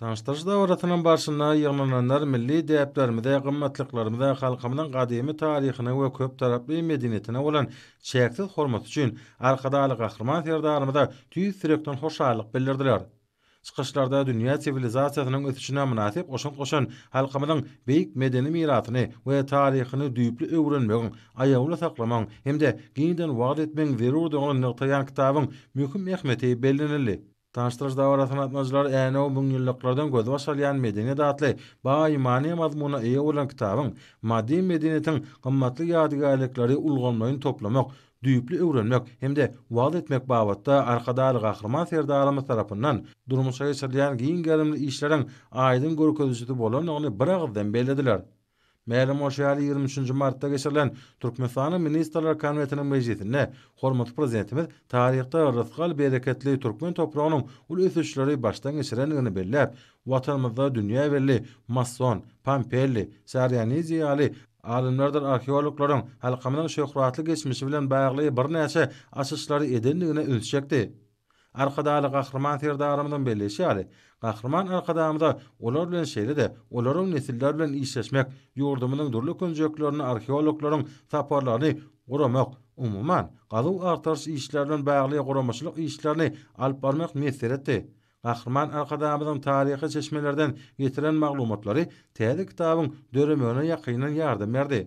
Tanyşdyryş dabarasynyň barşynda ýygnananlar milli däplerimize, gymmatlyklarymyza, halkymyzyň gadymy taryhyna we köptaraply medeniýetine bolan çäksiz hormaty üçin Arkadagly Gahryman Serdarymyza tüýs ýürekden hoşallyk bildirdiler. Çykyşlarda dünýä siwilizasiýasynyň ösüşine mynasyp goşant goşan halkymyzyň beýik medeni mirasyny we taryhyny düýpli öwrenmegiň, aýawly saklamagyň hem-de giňden wagyz etmegiň zerurdygyny nygtaýan kitabyň möhüm ähmiýeti bellenildi. Daş-daş dabara sanatmajylar Änew müňýyllyklardan gözbaş alýan medeniýet atly baý many-mazmuna eýe bolan kitabyň maddy medeniýetiň gymmatly ýadygärlikleri ulgamlaýyn toplamak, düýpli öwrenmek hem-de wagyz etmek babatda Arkadagly Gahryman Serdarymyz tarapyndan durmuşa geçirilýän giň gerimli işleriň aýdyň görkezijisi bolandygyny biragyzdan bellediler. Mälim bolşy ýaly, ýigrimi üçünji martda geçirilen Türkmenistanyň Ministrler Kabinetiniň mejlisinde hormatly Prezidentimiz taryhda rysgal-bereketli türkmen topragynyň uly ösüşleri başdan geçirendigini belläp, Watanymyzda dünýä belli Masson, Pompelli, Sarianidi ýaly alymlardyr arheologlaryň halkymyzyň şöhratly geçmişi bilen bagly birnäçe açyşlary edendigine üns çekdi. Arkadagly Gahryman Serdarymyzyň belleýşi ýaly, Gahryman Arkadagymyza olar bilen şeýle-de olaryň nesiller bilen işleşmek, ýurdumyzyň dürli künjeklerine arheologlaryň saparlaryny guramak, umuman, gazuw-agtaryş işleri bilen bagly guramaçylyk işlerini alyp barmak miýesser etdi. Gahryman Arkadagymyzyň taryhy çeşmelerden getiren maglumatlary täze kitabyň döremegine ýakyndan ýardam berdi.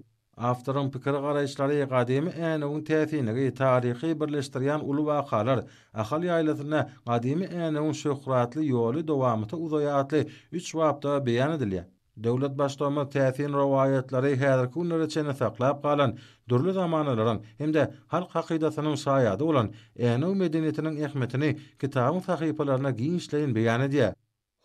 Awtoryň pikir-garaýyşlary gadymy Änewiň täsinligi, taryhy birleşdirýän uly wakalar, Ahal ýaýlasynda gadymy Änewiň şöhratly ýoly dowamyta uzaýar atly üç bapda beýan edilýär. Döwlet Baştugumyz täsin rowaýatlary häzirki günlere çenli saklap galan, dürli zamanalaryň hem-de halk hakydasynyň şaýady bolan Änew medeniýetiniň ähmiýetini kitabyň sahypalaryna giňişleýin beýan edýär.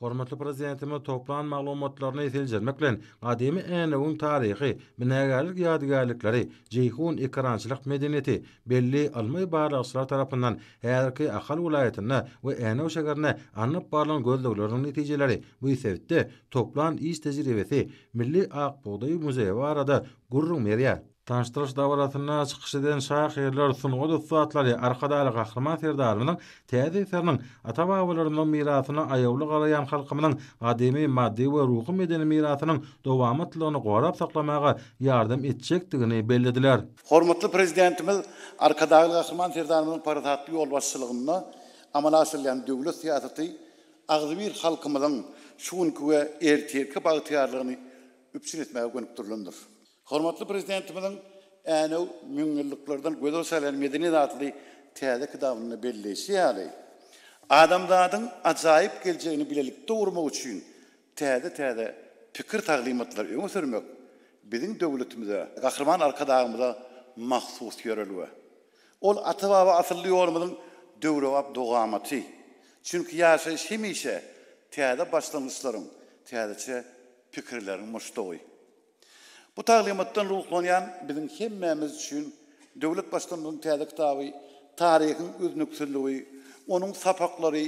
Hormatly Prezidentimiz toplan maglumatlaryny seljermek bilen, gadymy Änewiň taryhy, binagärlik ýadygärlikleri, Jeýhun ekerançylyk medeniýeti, belli ylmy-barlagçylar tarapyndan häzirki Ahal welaýatynda we Änew şäherinde alnyp barlan gözlegleriň netijeleri, bu sebitde toplan iş tejribesi, milli ak bugdaý muzeýi barada gürrüň berýär. Tanyşdyryş dabarasynda çykyş eden şahyrlar, sungat ussatlary Arkadagly Gahryman Serdarymyzyň täze eseriniň ata-babalarymyzyň mirasyna aýawly garaýan halkymyzyň gadymy maddy we ruhy-medeni mirasynyň dowamatlylygyny gorap saklamaga ýardam etjekdigini bellediler. Hormatly Prezidentimiz Arkadagly Gahryman Serdarymyzyň parasatly ýolbaşçylygynda amala aşyrylýan döwlet syýasaty agzybir halkymyzyň şu günki we ertirki bagtyýarlygyny üpjün etmäge gönükdirilendir. Hormatly Prezidentimiziň Änew, müňýyllyklardan gözel salýan medeniýet atly täze kitabynda belleýşi ýaly, adamzadyň ajaýyp geljegini bilelikde gurmak üçin täze-täze pikir-taglymatlary öňe sürmek biziň döwletimize, Gahryman Arkadagymyza mahsus ýörelge. Ol ata-baba asylly ýolumyzyň döwrebap dowamaty. Çünki ýaşaýyş hemişe täze başlangyçlaryň, täzeçe pikirleriň muşdagy. Bu taglymatdan ruhlanýan biziň hemmämiz üçin döwlet Baştutanymyzyň täze kitaby Taryhyň üznüksizligi, onuň sapaklary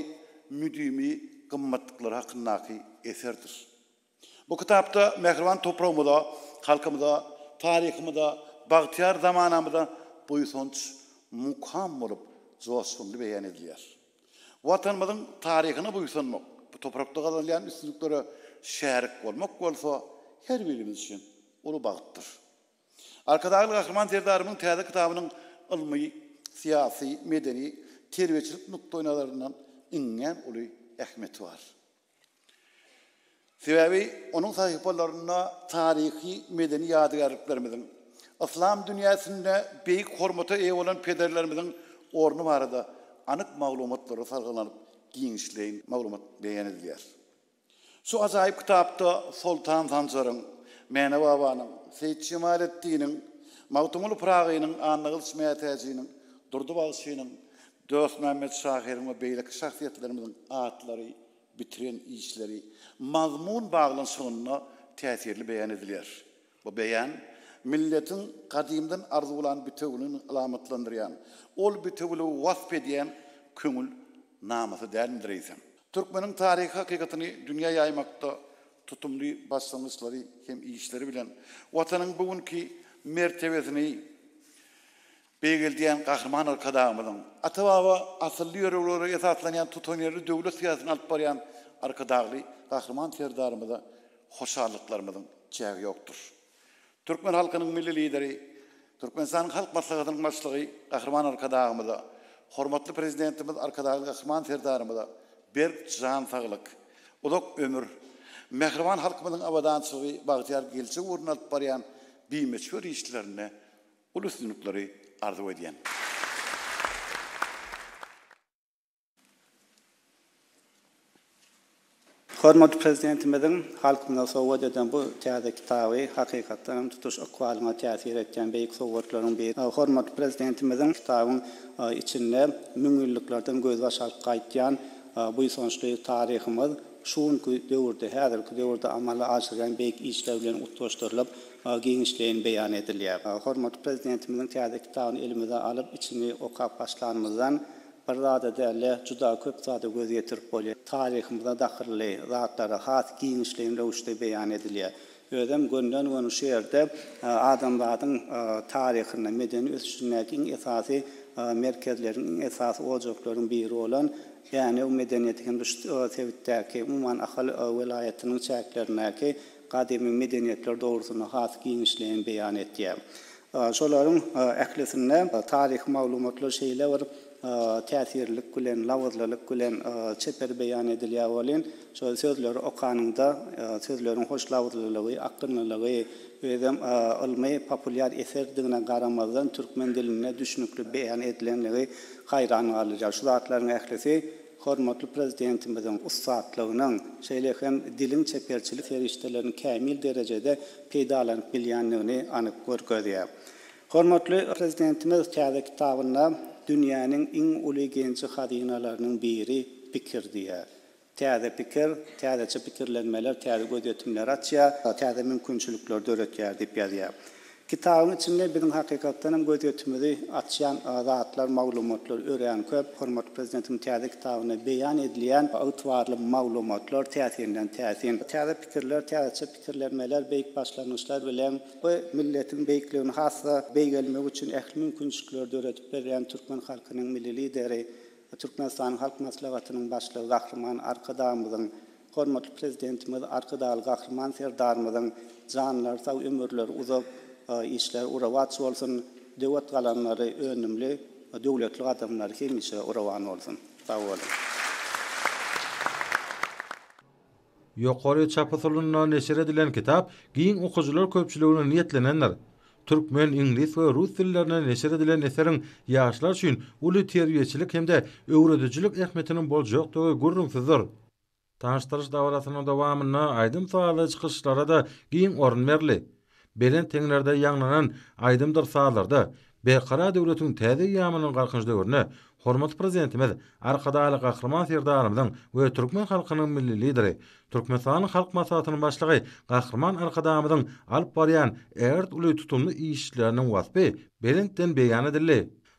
müdimi gymmatlyklary hakyndaky eserdir. Bu kitapda mähriban topragymyza, halkymyza, taryhymyza, bagtyýar zamanamyza buýsanç mukam bolup joşgunly beýan edilýär. Watanymyzyň taryhyna buýsanmak, bu toprakda gazanylýan üstünliklere şärik bolmak bolsa her birimiz üçin uly bagtdyr. Arkadagly Gahryman Serdarymyzyň täze kitabynyň ylmy, syýasy, medeni, terbiýeçilik nukdaýnazaryndan iňňän uly ähmiýeti bar. Sebäbi onuň sahypalarynda taryhy, medeni ýadygärliklerimiziň, yslam dünýäsinde beýik hormata eýe bolan pederlerimiziň orny barada anyk maglumatlar salgylanyp, giňişleýin maglumat beýan edilýär. Şu ajaýyp kitapda Soltan Sanjaryň, Mäne babanyň, Seýit Jemaleddiniň, Magtymguly Pyragynyň, Annagylyç Mätäjiniň, Durdy bagşynyň, Dostmämmet şahyryň we beýleki şahsyýetlerimiziň atlary, bitiren işleri mazmun baglanyşygynda täsirli beýan edilýär. Bu beýan milletiň gadymdan arzuwlan bitewüligini alamatlandyrýan, ol bitewüligi wasp edýän köňül namasy dälmidir eýsem? Türkmeniň taryhy hakykatyny dünýä ýaýmakda tutumly başlangyçlary hem işleri bilen Watanyň bu günki mertebesini Beýgeldýän Gahryman Arkadagymyzyň, ata-baba asylly ýörelgelere esaslanýan tutanýerli döwlet syýasatyny alyp barýan Arkadagly Gahryman Serdarymyza hoşallyklarymyzyň çägi ýokdur. Türkmen halkynyň Milli Lideri, Türkmenistanyň Halk Maslahatynyň Başlygy Gahryman Arkadagymyza, hormatly Prezidentimiz Arkadagly Gahryman Serdarymyza berk jan saglyk, uzak ömür, mähriban halkymyzyň abadançylygy, bagtyýar geljek ugrunda alyp barýan bimöçber işlerinde Uly üstünlikleri arzuw edýän. Hormatly Prezidentimiziň halkymyza sowgat eden bu täze kitaby hakykatdan hem tutuş ykbalyňa täsir etýän beýik sowgatlaryň biri. Hormatly Prezidentimiziň kitabyň içinde müňýyllyklardan gözbaş alyp gaýdýan buýsançly taryhymyz şu günki döwürde, häzirki döwürde amala aşyrýan beýik işler bilen utgaşdyrylyp, giňişleýin beýan edilýär. Hormatly Prezidentimiziň täze kitabyny elimize alyp, içini okap başlanymyzdan bir zada däl-de, juda köp zada göz ýetirip bolýar. Taryhymyza dahylly zatlar has giňişleýin röwüşde beýan edilýär. Özem gönden-göni şu ýerde adamzadyň taryhynda, medeni ösüşindäki iň esasy merkezleriň, iň esasy ojaklaryň biri bolan Änew medeniýeti hem-de şu sebitdäki, umuman, Ahal welaýatynyň çäklerindäki gadymy medeniýetler dogrusynda has giňişleýin beýan etýär. Şolaryň ählisinde taryhy maglumatlar şeýle bir täsirlilik bilen, labyzlylyk bilen çeper beýan edilýär welin, şol sözleri okanyňda sözleriň hoş labyzlylygy, akgynlylygy, özem ylmy, populýar eserdigine garamazdan, türkmen dilinde düşnükli beýan edilenligi haýran galdyrýar. Şu zatlaryň ählisi Hormatly Prezidentimiziň ussatlygynyň, şeýle hem diliň çeperçilik serişdelerini kämil derejede peýdalanyp bilýändigini anyk görkezýär. Hormatly Prezidentimiz täze kitabynda Dünýäniň iň uly genji-hazynalarynyň biri pikir diýýär. Täze pikir, täzeçe pikirlenmeler täze gözýetimleri açýar, täze mümkinçilikleri döretýär diýip ýazýar. Kitabyň içinde biziň hakykatdan hem göz ýetimizi açýan zatlar, maglumatlar örän köp. Hormatly Prezidentimiziň täze kitabynda beýan edilýän ygtybarly maglumatlar täsirinden täsin. Täze pikirler, täzeçe pikirlenmeler, beýik başlangyçlar bilen bu milletiň beýikligini has-da beýgelmegi üçin ähli mümkinçilikleri döredip berýän türkmen halkynyň Milli Lideri, Türkmenistanyň Halk Maslahatynyň Başlygy Gahryman Arkadagymyzyň Hormatly Prezidentimiz Arkadagly Gahryman Serdarymyzyň janlary sag, ömürleri uzak, işleri uruwatç bolsun, döwet galamlary önümli, döwletli gadamlary hemişe uruwan bolsun! Sag boluň! Ýokary çap usulynda neşir edilen kitap giň okyjylar köpçüligine niýetlenendir. Türkmen, iňlis we rus dillerinde neşir edilen eseriň ýaşlar üçin uly terbiýeçilik hem-de öwredijilik ähmiýetiniň boljakdygy gürrüňsizdir. Tanyşdyryş dabarasynyň dowamynda aýdym-sazly çykyşlara-da giň orun berildi. Belent deňlerde ýaňlanan aýdymdyr sazlarda Berkarar döwletiň täze eýýamynyň Galkynyş döwründe hormatly Prezidentimiz Arkadagly Gahryman Serdarymyzyň we türkmen halkynyň Milli Lideri, Türkmenistanyň Halk Maslahatynyň Başlygy Gahryman Arkadagymyzyň alyp barýan ägirt uly tutumly işleriniň waspy belentden beýan edildi.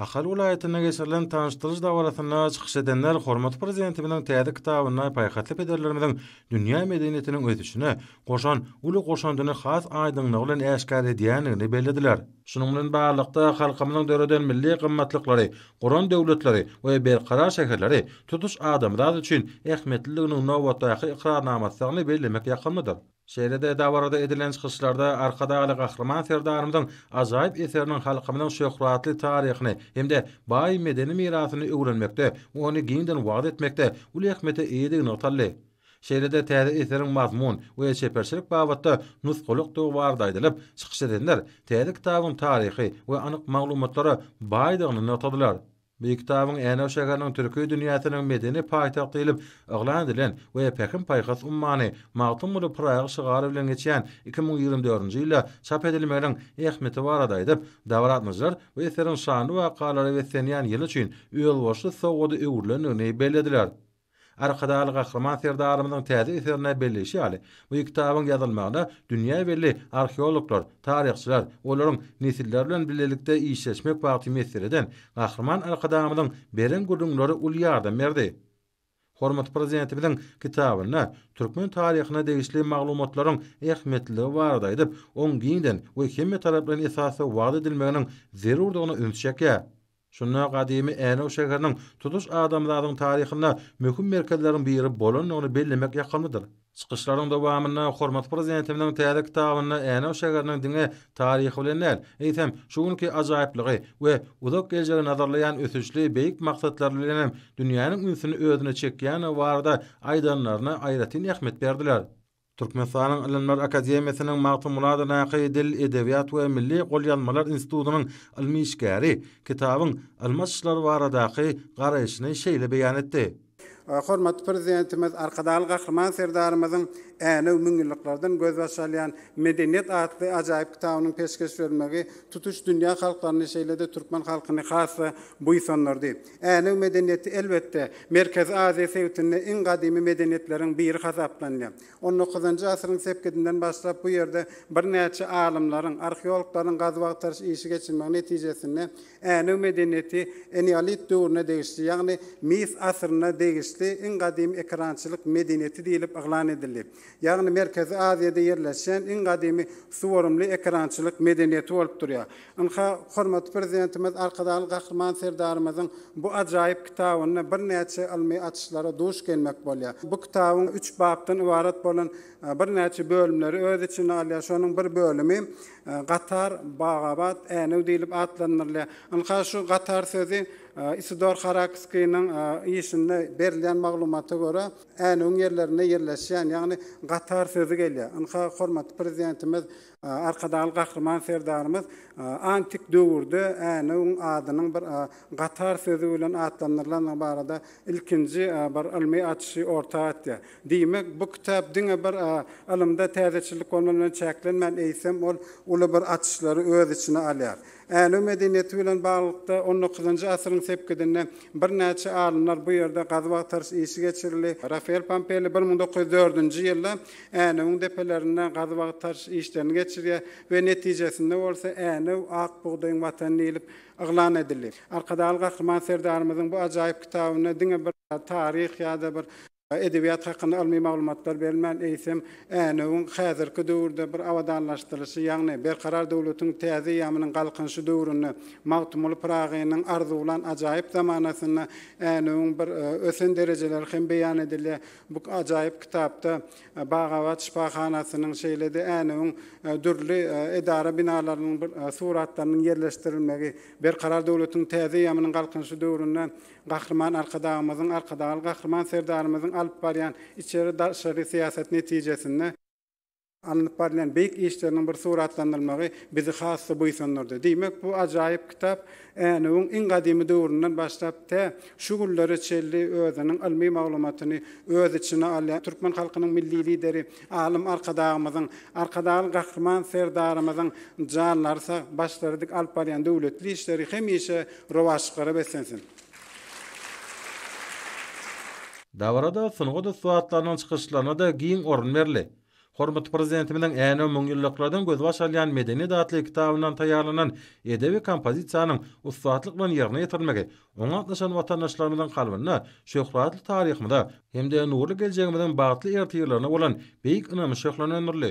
Ahal welaýatynda geçirilen tanyşdyryş dabarasynda çykyş edenler hormatly Prezidentimiziň täze kitabynda paýhasly pederlerimiziň dünýä medeniýetiniň ösüşine goşan uly goşandyny has aýdyňlygy bilen äşgär edýändigini bellediler. Şunuň bilen baglylykda, halkymyzyň döreden milli gymmatlyklary, guran döwletleri we berkarar şäherleri tutuş adamzat üçin ähmiýetliliginiň nobatdaky ykrarnamasydygyny bellemek ýakymlydyr. Şeýle-de dabarada edilen çykyşlarda Arkadagly Gahryman Serdarymyzyň ajaýyp eseriniň halkymyzyň şöhratly taryhyny hem-de baý medeni mirasyny öwrenmekde, ony giňden wagyz etmekde uly ähmiýete eýedigi nygtaldy. Şeýle-de täze eseriň mazmun we çeperçilik babatda nusgalykdygy barada aýdylyp, çykyş edenler täze kitabyň taryhy we anyk maglumatlara baýdygyny nygtadylar. Bu kitabyň Änew şäheriniň Türki dünýäsiniň medeni paýtagty diýlip yglan edilen we Pähim-paýhas ummany, Magtymguly Pyragy şygary bilen geçýän iki müň ýigrimi dördünji ýylda çap edilmeginiň ähmiýeti barada aýdyp, dabaraatmajylar bu eseriň şanly wakalara beslenýän ýyly üçin özboluşly sowgada öwrülendigini bellediler. Arkadagly Gahryman Serdarymyzyň täze eserinde belleýşi ýaly, bu kitabyň ýazylmagyna dünýä belli arheologlar, taryhçylar, olaryň nesiller bilen bilelikde işleşmek bagty miýesser eden Gahryman Arkadagymyzyň beren gürrüňleri uly ýardam berdi. Hormatly Prezidentimiziň kitabynda türkmen taryhyna degişli maglumatlaryň ähmiýetliligi barada aýdyp, oň giňden we hemmetaraplaýyn esasda wagyz edilmeginiň zerurdygyna üns çekýär. Şunda gadymy Änew şäheriniň tutuş adamzadyň taryhynda möhüm merkezleriň biri bolandygyny bellemek ýakymlydyr. Çykyşlaryň dowamynda hormatly Prezidentimiziň täze kitabynda Änew şäheriniň diňe taryhy bilen däl, eýsem, şu günki ajaýyplygy we uzak geljegi nazarlaýan ösüşli beýik maksatlary bilen hem dünýäniň ünsüni özüne çekýändigi barada aýdanlaryna aýratyn ähmiýet berdiler. Türkmenistanyň Ylymlar akademiýasynyň Magtymguladydaky Dil, edebiýat we milli golýazmalar institutynyň ylmy işgäri kitabyň ylmy açyşlary baradaky garaýşyny şeýle beýan etdi. Hormatly Prezidentimiz Arkadagly Gahryman Serdarymyzyň Änew, müňýyllyklardan gözbaş alýan medeniýet atly ajaýyp kitabynyň peşgeş berilmegi tutuş dünýä halklaryny, şeýle-de türkmen halkyny has-da buýsandyrdy. Änew medeniýeti, elbetde, Merkezi Aziýa sebitinde iň gadymy medeniýetleriň biri hasaplanýar. On dokuzynjy asyryň sepgidinden başlap bu ýerde birnäçe alymlaryň, arheologlaryň gazuw-agtaryş işi geçirmegi netijesinde Änew medeniýeti eneolit döwrüne degişli, ýagny mis asyryna degişli iň gadymy ekerançylyk medeniýeti diýlip yglan edildi. Ýagny Merkezi Aziýada ýerleşýän iň gadymy suwarymly ekerançylyk medeniýeti bolup durýar. Ynha, hormatly Prezidentimiz Arkadagly Gahryman Serdarymyzyň bu ajaýyp kitabynda birnäçe ylmy açyşlara duş gelmek bolýar. Bu kitabyň üç bapdan ybarat bolan birnäçe bölümleri öz içine alýar. Şonuň bir bölümi Gatar, Bagabat, Änew diýlip atlandyrylýar. Ynha, şu Gatar sözi Isidor Harakskiniň işinde berilýän maglumata görä, Änewiň ýerlerinde ýerleşýän, ýagny Gatar sözi gelýär. Ynha, hormatly Prezidentimiz Arkadagly Gahryman Serdarymyz antik döwürde Änewiň adynyň bir gatar sözi bilen atlandyrylandygy barada ilkinji bir ylmy açyşy orta atýar. Diýmek, bu kitap diňe bir ylymda täzeçillik bolman bilen çäklenmän, eýsem, ol uly bir açyşlary öz içine alýar. Änew medeniýeti bilen baglylykda on dokuzynjy asyryň sepgidinde birnäçe alymlar bu ýerde gazuw-agtaryş işi geçirildi. Rafael Pampelli bir müň dokuz ýüz dördünji ýylda Änewiň depelerinde gazuw-agtaryş işlerini geçirýär we netijesinde bolsa Änew ak bugdaýyň watany diýlip yglan edildi. Arkadagly Gahryman Serdarymyzyň bu ajaýyp kitabynda diňe bir taryh ýa-da bir Edebiýat hakynda ylmy maglumatlar berilmän, eýsem, Änewiň häzirki döwürde bir abadanlaşdyrylyşy, ýagny Berkarar döwletiň täze eýýamynyň Galkynyşy döwründe, Magtymguly Pyragynyň arzuwlan ajaýyp zamanasynda Änewiň bir ösen derejeleri hem beýan edilýär. Bu ajaýyp kitapda Bagabat şypahanasynyň, şeýle-de Änewiň dürli edara binalarynyň suratlarynyň ýerleşdirilmegi, Berkarar döwletiň täze eýýamynyň Galkynyşy döwründe Gahryman Arkadagymyzyň, Arkadagly Gahryman Serdarymyzyň alyp barýan içeri, daşary syýasaty netijesinde, alnyp barylýan beýik işleriniň bir suratlandyrylmagy bizi has-da buýsandyrdy. Diýmek, bu ajaýyp kitap Änewiň iň gadymy döwründen başlap, tä şu günlere çenli özüniň ylmy maglumatyny öz içine alýan türkmen halkynyň Milli Lideri, Alym Arkadagymyzyň, Arkadagly Gahryman Serdarymyzyň janlary sag, başlary dik alyp barýan döwletli işleri hemişe rowaçlyklara beslensin! Dabarada sungat ussatlarynyň çykyşlaryna-da giň orun berildi. Hormatly Prezidentimiziň Änew müňýyllyklardan gözbaş alýan medeniýet atly kitabyndan taýýarlanan edebi kompozisiýanyň ussatlyk bilen ýerine ýetirilmegi Oňa gatnaşan watandaşlarymyzyň kalbynda şöhratly taryhymyza hem-de nurly geljegimiziň bagtly ertirlerine bolan beýik ynamy şöhlelendirildi.